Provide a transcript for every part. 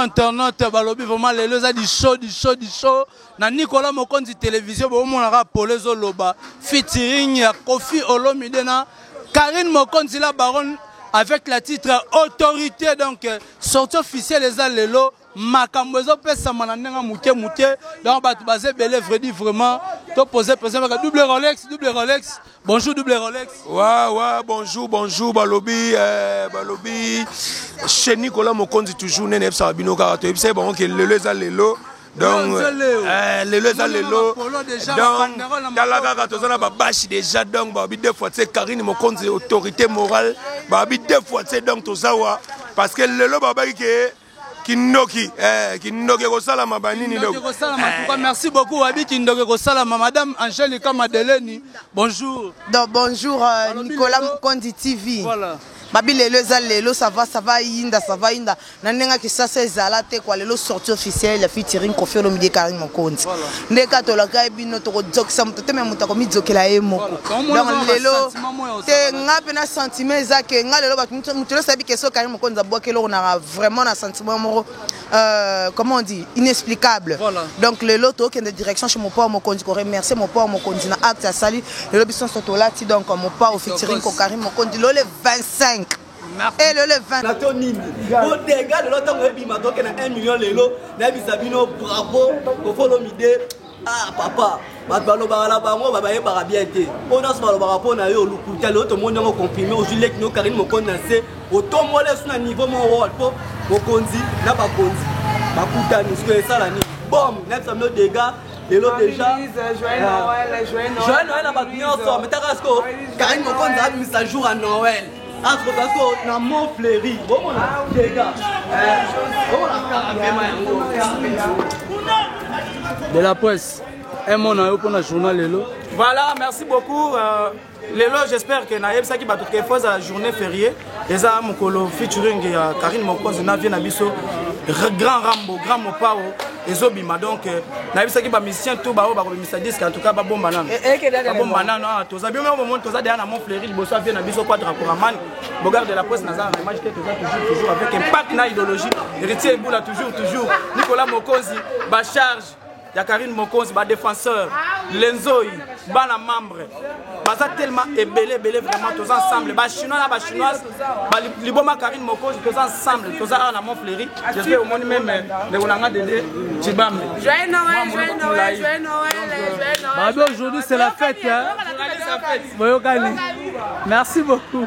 internaute balobi vraiment lelo eza disho disho disho na nicolas mokonzi televizio bomonaka polo ezoloba featuring ya kofi olomide na karine mokonzi la baronne avec la titre autorité donc euh, sortie officielle eza lelo makambo ezopesama na ndenge moke moke donc bato baza ebele vredi vraiment topose mpenza maka double rolex double rolex Bonjour double Rolex. Wa wa bonjour bonjour balobi eh, balobi chez Nicolas Mokonzi toujours nene ebisa bino kaka to ebisa bango ke lelo eza lelo donc eh, lelo eza lelo donc tala kaka toza na babashi déjà donc babi deux fois tse Karine Mokonzi autorité morale babi deux fois tse donc toza wa parce que lelo babaki ke kindoki eh, kindoki ekosalama banini ekosalama eh. tuka merci beaucoup wabi kindoki ekosalama madame angelica madeleni bonjour donc bonjour euh, nicolas mokondi tv voilà babi lelo eza lelo sava sava yinda sava yinda na ndenge ya kisasa ezala te kwa lelo sorti officiel ya fitiring kofi olomide ekari mokonzi nde ka tolaka ye bino tokodzokisa moto te me moto akomidzokela ye moko donc lelo te nga mpe na sentiment eza ke nga lelo bato moto nyonso ayebi ke soki carine mokonzi abwaki eloko na vraiment na sentiment moko euh, comment on dit inexplicable voilà. donc lelo tokende direction chez mopao mokonzi koremercier mopao mokonzi na acte asali lelo biso nyonso tolati donc mopao fitiring ko carine mokonzi lelo le 25 et le le 20 nato nini bodega lelo ntango ebima toke na 1 million lelo nayebisa bino bravo kofolomide Ah papa, bato balobaka na bango babayebaka bien te oyo nyonso balobaka mpo na yo lokuta lelo tomoni yango confirme ozwi leki no karine mokondi na nse otombola esu na niveau moko wol mpo mokonzi na bakonzi bakutani sikoyo esala nini bom nayebisa bino dega lelo deja joyeux noël na bato nyonso metaka sikoyo karine mokonzi abimisa jour ya noël Astro Gasco na Mont Fleury. Bomo na Dega. Bomo na kaka pema yango. De la presse. Un mot na yo pour na journal lelo. Voilà, merci beaucoup. Euh, lelo j'espère que nayebisaki bato ke fo ezala journée férié eza mokolo featuring ya karine mokonzi na vie na biso grand rambo grand mopao ezobima donc euh, nayebisaki bamusicien tout baoyo bakobimisa disque en tout cas babomba nano eh, eh, babomba nano awa ah, toza bino bomoni toza deya na mont fleuri liboso avie na biso quadra coraman bogar de la presse naza na image te toza toujours toujours avec impact na idéologie héritier ebula toujours toujours nicolas mokonzi bacharge ya karine mokonzi badéfenseur lenzoi bana membre baza tellement ebele ebele vraiment toza ensemble bachinois na bachinoise liboma karine mokozi toza ensemble toza awa na mont fleuri jespère omoni meme euh, ndeko na nga dede cibambe babe aujourd'hui c'est la fête boyokani merci beaucoup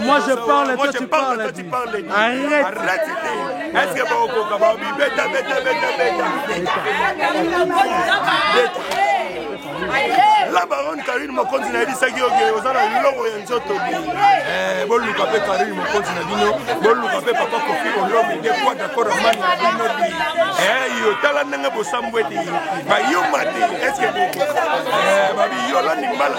Moi je parle, toi tu parles. Arrête. Arrête. Est-ce que vous pouvez pas me beta beta beta beta. La baronne Karine Mokonzi na yebisaki yo ke oza na eloko ya nzoto bi. Eh boluka pe Karine Mokonzi na bino, boluka pe papa Kofi Olomide nde kwa d'accord amani na bino bi. Eh yo tala ndenge bosambwe te. Bayuma te. Est-ce que eh babi yo landi mbala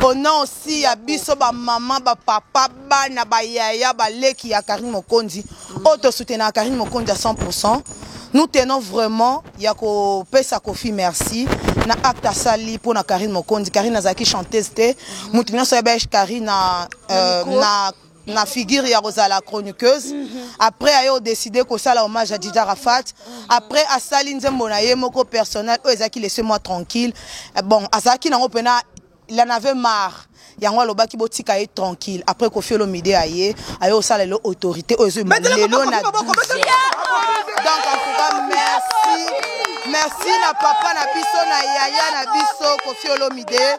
Pona osi ya biso ba maman ba papa bana ba yaya ba leki ya Carine Mokonzi oyo to soutenaka Carine Mokonzi à 100% nous tenons vraiment ya ko pesa Koffi merci na acte asali pona Carine Mokonzi Carine azalaki chanteuse te mutu nionso ayebaki Carine na euh, na na figure ya kozala chroniqueuse mhm. après aye odeside kosala hommage ya dida rafat mhm. après asali nzembo na ye moko personnel oyo ezalaki laisse moi tranquille eh, bon azalaki nango mpena il en avait marre yango alobaki botika ye tranquille après kofi olomide aye aye osala lelo autorité oyo ezolelo na donc en tout cas merci merci na papa na biso na yaya na biso kofi olomide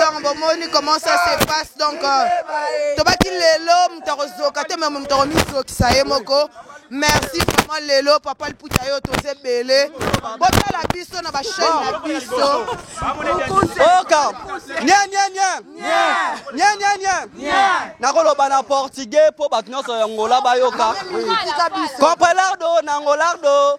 donc bomoni comment ça se passe donc euh, tobaki lelo moto akozoka te meme moto akomizokisa ye moko merci vraiment lelo papa liputa yo toza ebele botala biso na bachaine na biso oka nianianianianianiania nakoloba na portugais mpo bato nyonso ya ngola bayoka comprelardo na ngolardo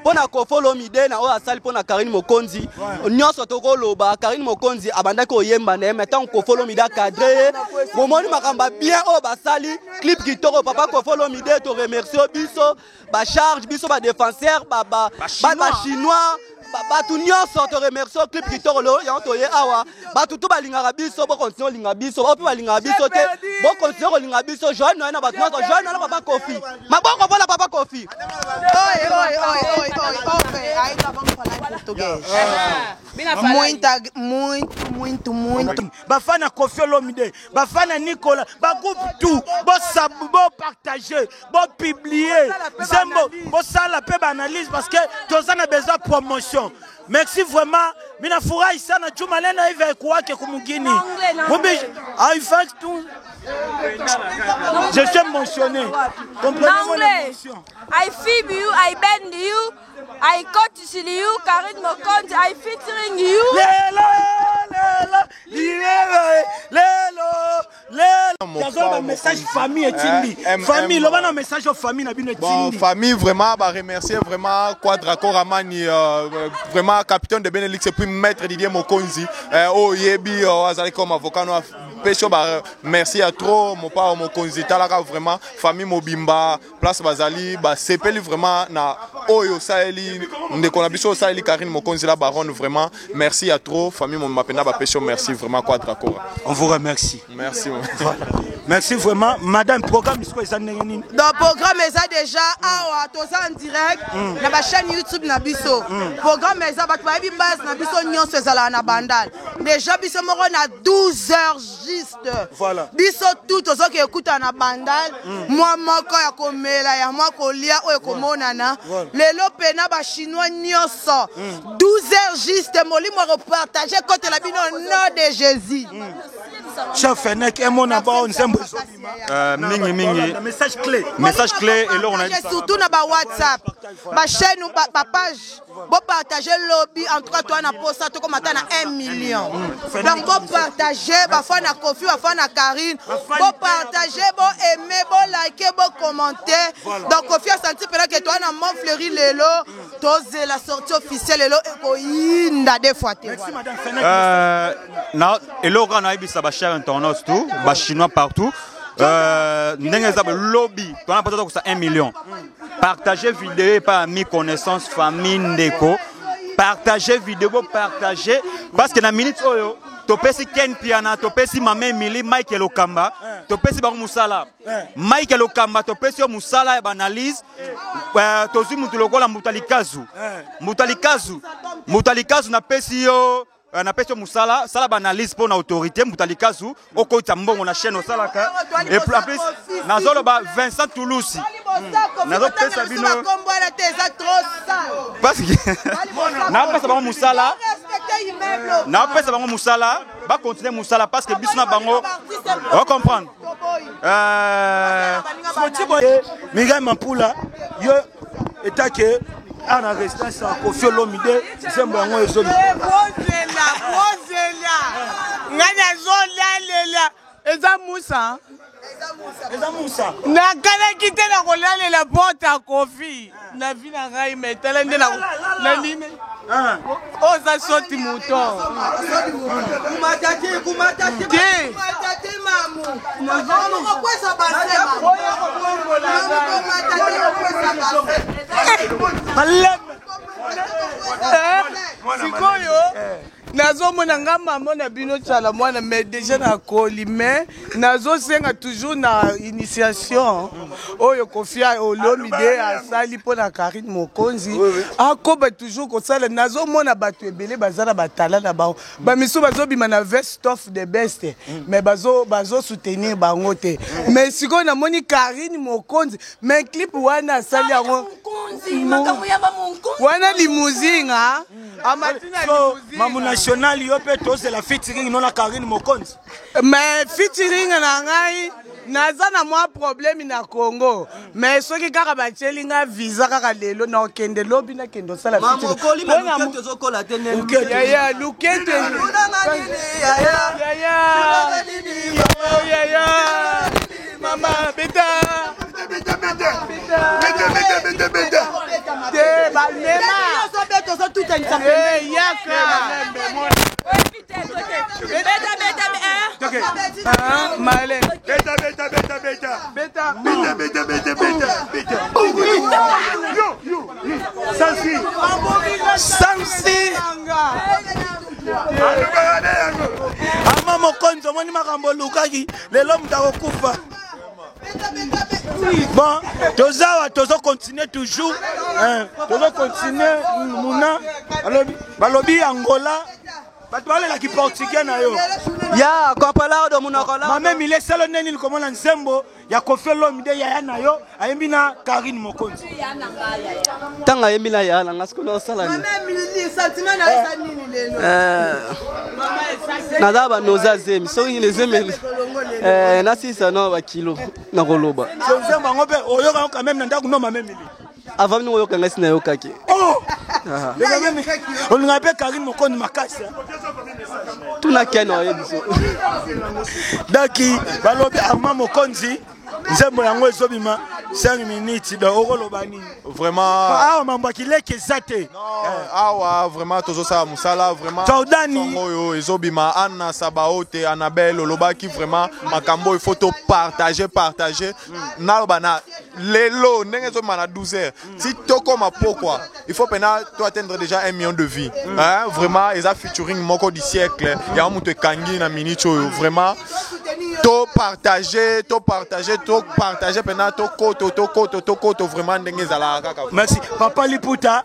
mpo na koffi olomide na oyo asali mpo na karine mokonzi nyonso tokoloba karine mokonzi abandaki koyemba na ye mai ntango koffi olomide akadre ye bomoni makambo ya bien oyo basali clip kitoko papa koffi olomide toremercie biso bacharge biso badefenseur bachinois bato nyonso toremercie clip kitoko lelo yango toye awa bato tu balingaka biso bokontinue kolinga biso baoyo mpe balingaka biso te bokontinue kolinga biso joane noye na bato nyonso joane noye na papa kofi maboko mpo na papa kofi bafana na kofi olomide bafana na nikola bagroupe tout bopartage bopublie nzembo bosala mpe baanalyse parce que toza na besoin promotion Merci vraiment. Mina furahi sana juu maneno hivi haikuwake kumugini. Mubi I fact tu Je suis mentionné. Comprenez mon émotion. I fib you, I bend you, I cut you, Karine Mokonzi, I featuring you. Lelo, lelo, lelo, lelo. Jason ba message famille etindi eh, famille loba na message ya famille na bino etindi bon famille vraiment ba remercier vraiment Quadra Koramani euh, euh, vraiment capitaine de Benelux et puis maître Didier Mokonzi euh, oh yebi oh, azali comme avocat no peso ba merci à trop mon papa Mokonzi talaka vraiment famille mobimba place bazali basepeli vraiment na oyo osaleli ndeko na biso osaleli Karine Mokonzi la baronne vraiment merci ya trop famille mon mapenda ba pesho merci vraiment Quadra Cora on vous remercie merci merci vraiment madame programme siko eza ndenge nini donc programme eza déjà awa toza en direct mm. na ba chaîne youtube na biso mm. programme eza bato bayebi base na biso nyonso ezalaka na bandal déjà biso moko na 12 heures juste pasteur voilà. biso tout tozoki ekutana na bandal mm. mwa moko ya komela ya mwa kolia oyo ekomonana voilà. lelo mpe na bachinois nyonso mm. 12 heures juste molimo akopartage kotela bino nom de jésus mm. chef fenek emona bao nzembo ezobima euh, mingi mingi message clé message clé eloko na surtout na ba whatsapp ba chaîne ba page Bo partage lobby en tout cas toi na posa toko mata na 1 million. Donc bo partage ba fois na Kofi ba fois na Karine. Bo partage bo aimer bo liker bo commenter. Donc Kofi a senti pela que toi na mon fleuri lelo toze la sortie officielle lelo eko yinda des fois te. Euh na eloko na ibisa ba chers internautes tout ba chinois partout. Euh ndenge za lobby toi na posa toko sa 1 million. Partagez vidéo par ami connaissance famille ndeko. Partagez vidéo, partagez parce que na minute oyo topesi ken piana topesi mama emili mike lokamba eh. topesi bango mosala eh. mike lokamba topesi yo mosala ya baanalyse eh, tozwi motu lokola mbuta likazu mbuta likazu mbuta likazu napesi yo Euh, napesi yo mosala sala baanalyse mpo na autorité mbuta likasu okotisa mbongo na chaîne osalaka et plus en plus nazoloba vincent toulousi hmm. nazopesa bino napesa bango mosala napesa bango mosala bakontinue mosala parce que biso na bango ocomprendre euh, mingai mampula yo etake awa na residence ya kofi olomide nzembo yango ezoli eh, bozela bozela ngai nazolalela eza musa eza musa nakanaki te na kolalela porte ya kofi na vi na ngai me tala nde na nini ah. oza soti moto sikoyo nazomona nga mama na bino cala mwana mais deja nakoli mais nazosenga toujours na initiation oyo kofia olomide asali mpo na karine mokonzi akoba toujours kosala nazomona bato ebele baza na batala na bango bamisusu bazobima na vest of the best mm. mais bazosoutenir bazo bango te mm. mais sikoyo namoni karine mokonzi mais clip wana asali yango wana limusinga mm. amatina mambo national yo mpe tozela fitiring nona karine mokonzi Mais featuring na ngai naza na mwa problème na congo mais soki kaka batieli nga visa kaka lelo nakende lobi nakende osala yaya lukete yaya mama beta te balema yaka ama mokonzi omoni makambo olukaki lelo moto akokufa bon toza awa tozo continue toujours eh, tozo continue muna balobi angola bato balela kiportugais na yo ya kopalado monoko mame mile selo nde nini komona nzembo ya kofi olomide yaya na yo ayembi na karine mokonzi ntango ayembi na ya na nga sikoyo naosala nini eh. naza banoza zemi soki nini ezemeli eh, nasisa no bakilo nakoloba bango mpe oyokaka quand même na ndako no mamemili avant mini oyoka ngai sinayokaki oh! ah. olingaka mpe karine mokoni makasi tuna ken oyebiso daki balobi arma mokonzi nzembo yango ezobima 5 minutes donc okoloba nini vraiment awa mambo ya kileki eza te eh. awa vraiment tozosala mosala vraimentjordani oyo ezobima anna sabaote annabelle olobaki vraiment makambo oyo faut topartage partage hmm. naloba na lelo ndenge ezobima na 12 heures si tokoma pokwa il faut pena to atteindre déjà un million de vie mm. hein? vraiment eza featuring moko du siècle yango moto ekangi na minute oyo vraiment to partage to partage to partage mpena tokoto tokoto tokoto vraiment ndenge ezalaka kaka merci papa liputa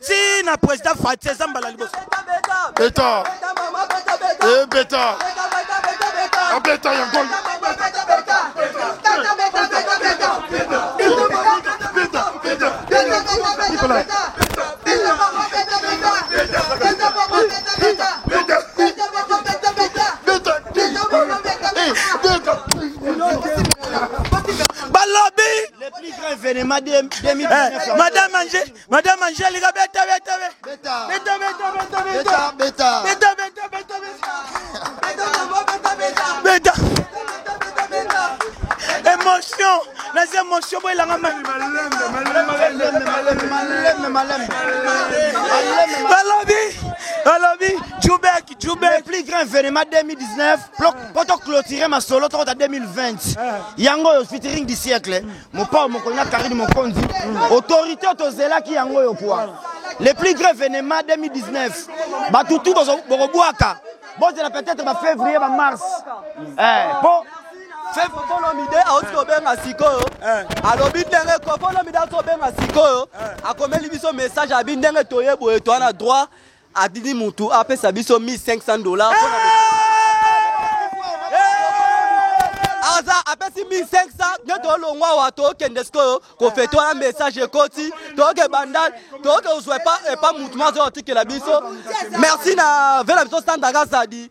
ti na president fati eza mbala liboso beta e beta abeta ah, yango balobi eh, madame ange Madame Angelica, beta, beta, beta. Beta. Beta, beta, beta, beta. Beta, beta. Beta, beta, beta, beta. Beta, maman, beta, beta. Beta. Beta, beta, beta. Émotion. Nas émotions, boy, langa mal. Balobi, balobi, Djoubek, Djoubek. plus grand événement 2019 poto clôturer masolo tokota 2020 yango oyo featuring du siècle Mopao mokolo na Karine Mokonzi, autorité tozelaki yango yo kwa. Le plus grave événement 2019. Bato tout bokobwaka. Bozela peut-être ba février, ba mars. Eh, po kofolomide auti kobenga sikoyo eh. alobi ndenge kofolomide auti kobenga sikoyo eh. akomeli biso message abi ndenge toye boye toa na droit Atindi mutu apesa biso 1500 dollars pona aza apesi 1500 nde tolongwa awa tokende sikoyo kofete wana message ekoti toke bandal toke ozwa epa mutu mazoya otikela biso merci na vela biso sandaka zadi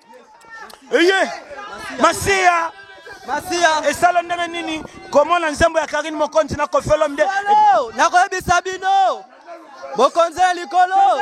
eye masiya masiya esala ndenge nini komona nzembo ya karine mokonzi na kofelo mde nakoyebisa bino bokonzi ya likolo